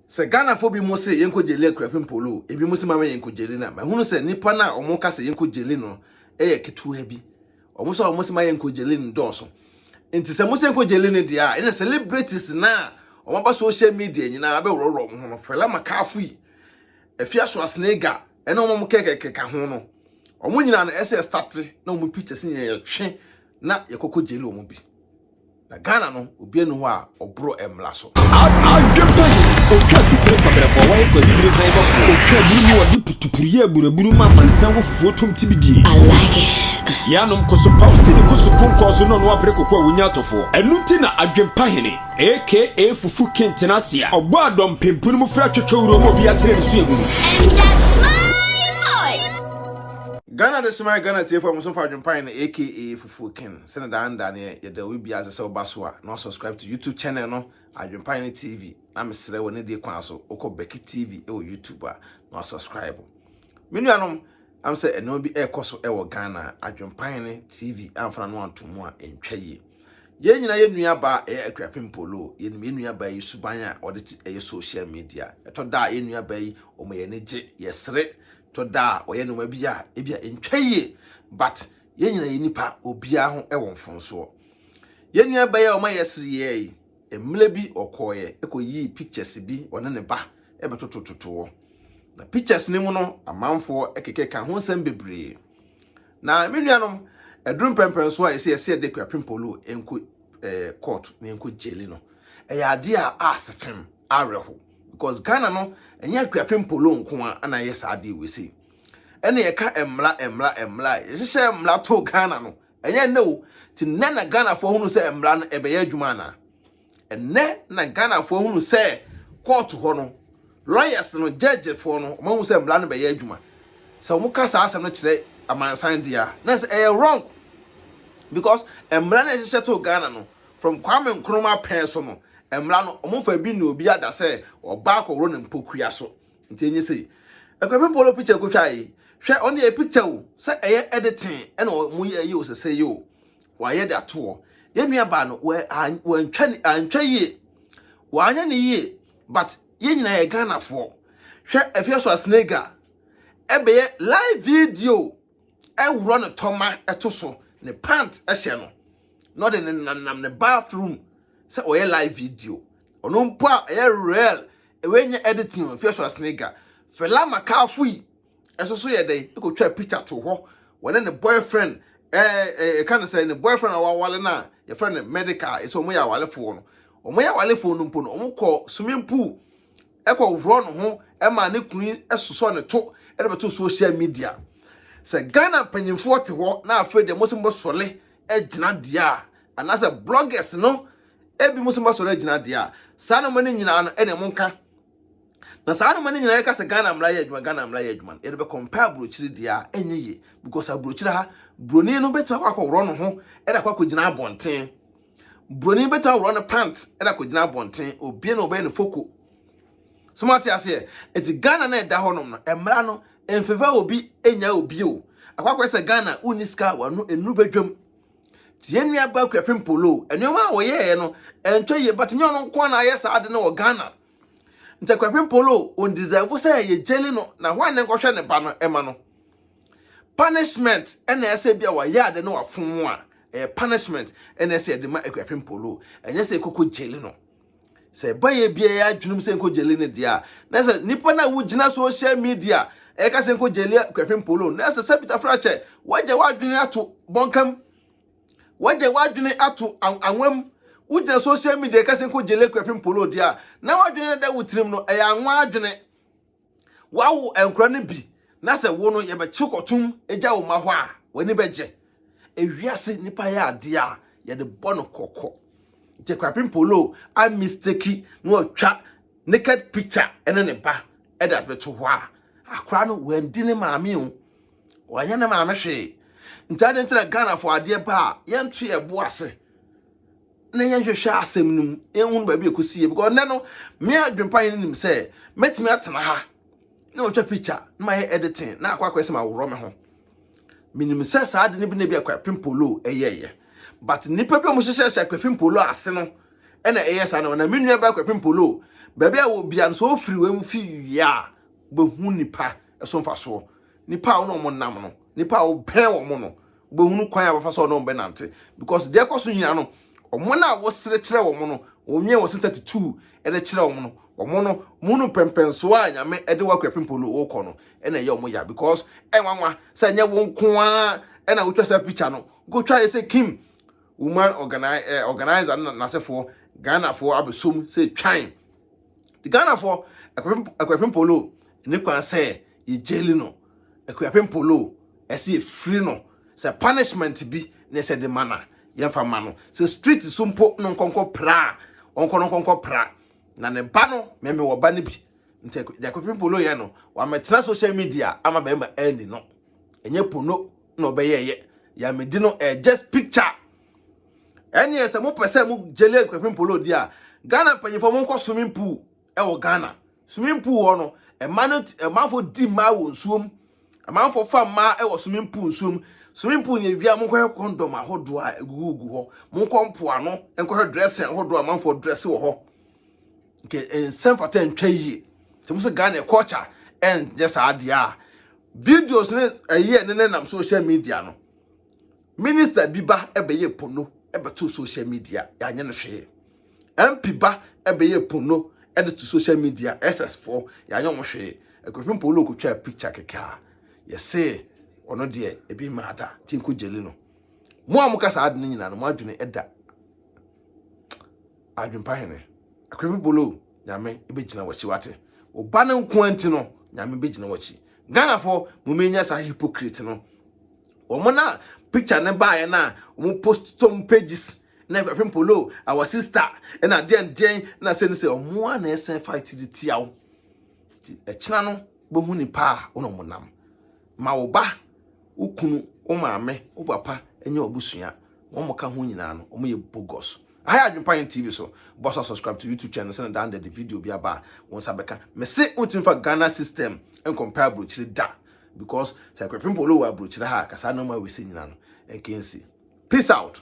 Sɛ Ghanafoɔ bi mo se yɛnkɔ gyeli Akuapem Polo o, ebi mo se mama yɛnkɔ gyeli no a, mahunu sɛ nnipa no a wɔn ka sɛ yɛnkɔ gyeli no yɛ ketewa bi. Wɔn nso a wɔn se ma yɛnkɔ gyeli no dɔɔso. Nti sɛ mo se yɛnkɔ gyeli no deɛ a, ɛna celebrities no a wɔn aba social media nyinaa abɛworɔworɔ wɔn ho no, Fela Makafui, Afia Schwarzenegger, ɛne wɔn a wɔn kɛkɛkeka ho no, wɔn nyinaa no ɛsɛ yɛ starte na wɔn pictures nyinaa yɛtwe na yɛkɔkɔ gyeli wɔn bi. Na Ghana no obia ni hɔ a ɔboro mmra so. Adwempɔyi, Otwa asupre nkɔbrɛfoɔ wɔyɛ kɔ abibire hann bɔfoɔ Otwa aburu mu wɔde putupuru yɛ aburaburu ma amansan wo fufuo tom ti bi die. I like it. Yɛ anom kɔ so paw sini kɔ so konkɔn so na ɔno apere koko a wonya atɔfoɔ Ɛno nti na Adwempahene aka Fufu King tena ase a ɔbɔ a dɔmpem po no mu fra twɛtwɛ wura mu a obiara kyerɛ ne suahunu. And that's my boy! Ghana de soma Ghana atiefo a wɔn nso fa Adwempahene aka Fufu. Full kin sɛ ne dan da neɛ yɛda obi bia ase sɛ woba so a na wasubscribe to YouTube channel no Adwempa Hene TV na mesrɛ wɔ ne die kwan so wokɔ Becky TV wɔ YouTube a na wasubscribe me nuanom am sɛ ɛnɛma bi ɛkɔ so ɛwɔ Ghana Adwempa Hene TV amfana no anto mu a ɛntwa yie yɛn nyinaa yɛ nua baa ɛyɛ Akuapem Polo yɛnim yɛn nua baa yi suban a ɔde te ɛyɛ social media ɛtɔ da a yɛn nua baa yi ɔma yɛn ani gye yɛsere tɔ da a ɔyɛ nneɛma bi a ebi a ɛntwa yie but Yɛn nyinaa yɛ nnipa, obiara ho wɔ mfomsoɔ. Yɛn nua bɛyɛ ɔma yɛsere yɛɛ yi, mmerɛ bi ɔkɔɔeɛ ɛkɔ yii pictures bi ɔne ne ba ɛbɛtotototoɔ. Na pictures no mu no amanfoɔ ɛkekɛ ka ho nsɛm bebree. Na me nuanom, ɛduru mpɛmpɛnsoɔ a yɛsɛ yɛsɛ yɛde Kwapim Polo ɛnkɔ eh, court na ɛnkɔ gyeli no. Ɛyɛ adeɛ a aase fem, awerɛho. Because Ghana no, ɛnyɛ Kwapim Polo nko a na ɛyɛ saa adeɛ wei sei. ɛna yɛka mmara mmara mmara yɛhyehyɛ mmara to ghana no ɛnyɛ nnɛ o ti nnɛ na ghanafoɔ hunu sɛ mmara no ɛbɛyɛ adwuma anaa ɛnnɛ na ghanafoɔ hunu sɛ kɔɔto hɔ no lawyers no gyɛgyefoɔ no wɔn ahu sɛ mmara no bɛyɛ adwuma sɛ wɔn ka saa asɛm no kyerɛ amansan deɛ a na sɛ ɛyɛ wrong because mmara no ɛhyehyɛ to ghana no from kwame nkrumah pɛn so no mmara no wɔn fa bi na obi ada sɛ ɔbaa kɔworo ne mpokua so Nti enye se Akuapem Polo picture kotwa yi, hwɛ ɔno yɛ picture o, sɛ ɛyɛ editing ɛna ɔmo yɛ yi o sɛsɛ yi o, wayɛ de ato hɔ. Yɛn nua baa no wɔ wɔantwa ne antwa yie, wanyɛ ne yie, but yɛn nyinaa yɛ Ghanafoɔ. Hwɛ Afia so a Snake Ga ɛbɛyɛ live video ɛworɔ ne tɔma ɛto so ne pant ɛhyɛ no na ɔde ne nanam ne bathroom sɛ ɔyɛ live video ɔno mpo a ɛyɛ real ɛwɛ nyɛ editing o fia so asiniga fela makafo yi ɛso so yɛ dɛn ɛkɔtwa picture to hɔ wɔne ne boyfriend ɛɛ ɛɛ ɛka ne sɛ ne boyfriend a wɔawale no a yɛfrɛ no medical ɛsɛ wɔn yɛ awalefoɔ no wɔn yɛ awalefoɔ no mpo no wɔn kɔ swimming pool ɛkɔworɔ ne ho ma ne kunu sosɔ ne to de bɛto social media sɛ ghana mpanyinfoɔ te hɔ na afei deɛ mo sɛ mobɛsɔre agyina deɛ a anaasɛ bloggers no ebi mo sɛ mobɛsɔre agyina deɛ a saa nneɛma no nyinaa no ɛna mo nka na saa nneɛma no nyinaa yɛka sɛ ghana mmara yɛ adwuma ghana mmara yɛ adwuma no yɛde bɛkɔmpa aburokyire deɛ a ɛnyɛ yie because aburokyire ha buroni no bɛtumi akɔ akɔworɔ ne ho ɛde akɔ akɔgyina abɔnten Buroni bɛtumi aworɔ ne pant de akɔgyina abɔnten, obie na ɔbɛyɛ ne foko. So moate aseɛ? Ɛti Ghana na ɛda hɔnom no, mmara no mfefa obi nya obi o. Akwakwɛ sɛ Ghana wonni sika a wano nnuru badwam. Ti yɛn nua ba Akuafin Polo, nneɛma a wɔyɛeɛ no ɛntwa yie, but nyɛ ɔno nko na ayɛ saa ade no wɔ Ghana. nti akwapem polo on deserve sɛ yɛ jelly no na hwan ne nkɔhwɛ ne ba no ɛma no punishment ɛna ɛsɛ bi a wayɛ ade no wafom a ɛyɛ punishment ɛna ɛsɛ ɛde ma akwapem polo ɛnyɛ sɛ ɛkɔkɔ jelly no sɛ ɛba yɛ bi a ɛyɛ adwenem sɛ nkɔ jelly no deɛ a na sɛ nipa no a wogyina social media ɛka sɛ nkɔ jelly akwapem polo na sɛ sɛ bitafra kyɛ wagya wadwene ato bɔnkam Wagye w'adwene ato anwa mu. Wogyina social media kɛse nko gye lekura pem polo di a, na w'adwene da wo tirim no, ɛyɛ anwa adwene. Wawo nkora no bi, na sɛ wo no yɛbɛkye kɔtom agya wo ma hɔ a, w'ani bɛgye. Ewiase nipa yɛ adeɛ a yɛde bɔ no kɔkɔ. Nti kura pem polo a mistake na ɔtwa naked picture ne ne ba ɛde abɛto hɔ a, akora no wandi ne maame o. Wanyɛ ne maame hwee. Nti ade nti na Ghanafoɔ adeɛ ba a yɛnto yɛn bo ase na yɛnhwehwɛ asɛm no mu na yɛnhunu baabi ɛkɔsi yɛ because nnɛ no me adwempa yɛ no nim sɛ mɛtumi atena ha na ɔtwa picture na mayɛ editing na akɔ akɔyɛ sɛ maworɔ me ho menim sɛ saa ade no bi na bi akwapem polo ɛyɛɛyɛ but nnipa bi a wɔhyehyɛhyɛ akwapem polo ase no ɛna ɛyɛ saa no na me nua ba akwapem polo baabi a wɔ bia no sɛ ɔfiri wɔ mu fi wie a wobɛhu nipa so mfasoɔ. Nnipa a wo ne wɔn nam no, nnipa a wobɛn wɔn no, wobɛhunu kwan a wɔfa so wɔn bɛnante. Because deɛ ɛkɔ so nyinaa no, wɔn a wosere kyerɛ wɔn no, wɔnwie wɔn sɛ 32 de kyerɛ wɔn no, wɔn no, wɔhunu mpɛmpɛnsoɔ a Nyame de wɔ akuapem polo wokɔ no, ɛna ɛyɛ wɔn ya. Because ɛnwanwa sɛ ɛnyɛ wo nko ara na wotwa saa picture no, wokɔtwa yɛ sɛ Kim woman organi eh, organizer no n'asefoɔ Ghanafoɔ abɛsom sɛ twan. Ghanafoɔ Akuapem Polo ne kwan sɛ yɛ jaili no Akuapem Polo ɛsɛ yɛ firi no sɛ punishment bi ne ɛsɛ de ma na yɛn fa ma no sɛ street so mpo no nkɔnkɔ pra ɔnkɔ no nkɔnkɔ pra na ne ba no mɛmɛ wɔ ba no bi nti deɛ Akuapem Polo yɛ no wɔamɛtena social media ama bɛrima ɛni no ɛnyɛ pono na ɔbɛyɛ yɛ yɛ amedi no ɛyɛ just picture ɛneɛ sɛ mopɛ sɛ mo gyele kwapim polo di a ghana mpanyinfoɔ mo nkɔ swimming pool ɛwɔ ghana swimming pool hɔ no ɛma no ɛmanfoɔ di mmaa wɔ nsuom ɛmanfoɔ fa mmaa ɛwɔ swimming pool nsuom swimming pool yɛ wia mo nkɔhwɛ kɔndɔm ahodoɔ a ɛgugugu hɔ mo nkɔ mpoano nkɔhwɛ dressing ahodoɔ a manfoɔ dress wɔ hɔ nke nsɛm fata ntwa yie sɛ mo sɛ ghana culture ɛnyɛ saa adeɛ a videos ne ɛyɛ ne nenam social media no Minister bi ba ɛbɛyɛ pono ɛbɛto social media yɛanyɛ no hwee. MP ba ɛbɛyɛ pono ɛde to social media SS foɔ yɛanyɛ wɔn hwee. Ɛkɔhwɛ mpo ɔno ɔkɔtwa picture kɛkɛ a yɛse ɔno deɛ ebi mma ada nti nkɔ gyeli no. Mo a moka saa ade no nyinaa no mo adwene ɛda adwempa hene. Ɛkɔhwɛ polo nyame ɛbɛgyina wakyi wate. Wo ba no nko nti no nyame bɛgyina wakyi. Ghana foɔ mo menya saa hypocrite no. wɔn na picture no baeɛ no a wɔn post tom pages na ɛfɛpem polo our sister ɛna deɛn deɛn na sɛ no sɛ wɔn a na ɛsɛ fight de tia wo ti ɛkyina no bɛhu nipa a wɔn wɔn nam ma wo ba wo kunu wo maame wo papa ɛnyɛ ɔbusua wɔn mo ka ho nyinaa no wɔn yɛ bogus ayɛ adwempa yɛn tv so bɔ so subscribe to youtube channel sɛ na dan de video bi aba a wɔn nsa bɛka mese wɔntumi fa ghana system nkɔmpa aburokyire da Because sɛ kwepem polo wɔ abrokyire ha a kasa no ma wesi nyina no nkensi. Peace out.